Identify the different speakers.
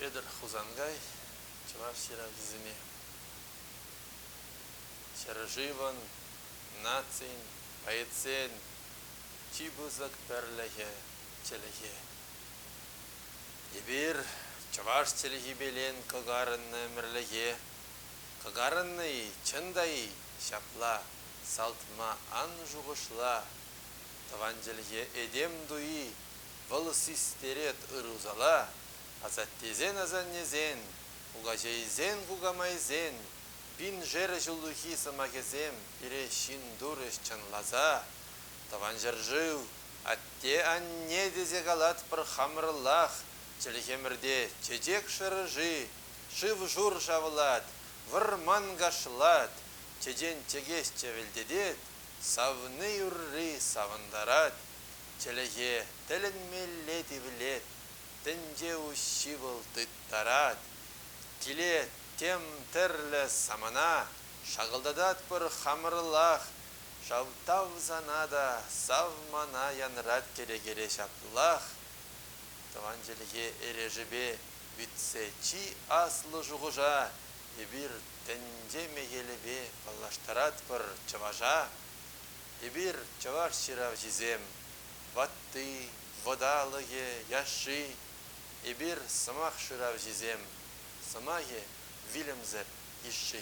Speaker 1: Петӗр Хусанкай чӑваш ҫыравҫисене ҫӗршывӑн, нацин, поэтсен чи пысӑк пӗрлӗхӗ, чӗлхе. Эпир чӑваш чӗлхипе лен кӑкарӑннӑ ӗмӗрлӗхе кӑкарӑннӑ-и, чӑн та-и, ҫапла, салтма ан шухӑшла. Тӑван чӗлхе этем туйи, вӑл систерет ыр-усала, асаттесен-асаннесен, кукаҫейсен-кукамайсен, пиншер ҫуллахи сӑмахӗсем пире ҫын турӗҫ чӑнласа, Тӑван ҫӗршыв, атте-анне тесе калатпӑр хамӑрӑллах, чӗлхемӗрте чечек шӑрӑши, шыв-шур шавлать, вӑрман кашлать, чечен чӗкеҫ чӗвӗлтетет, Савни юрри савӑнтарать, чӗлӗхе тӗлӗнмелле тивлет, тӗнче уҫҫи вӑл тыттарать. Килет тем тӗрлӗ самана, шакӑлтататпӑр хамӑрлах. Ҫав тав сана та, сав мана янрать кӗрекере ҫаплах. Тӑван чӗлхе эрешӗпе витсе чи аслӑ шухӑша эпир ӗнтӗ мехелӗпе паллаштаратпӑр чӑваша. Эпир, чӑваш ҫыравҫисем, ватти, вӑталӑхӗ, яшши. Эпир, сӑмах шыравҫисем, сӑмахӗ вилӗмсӗр йышши.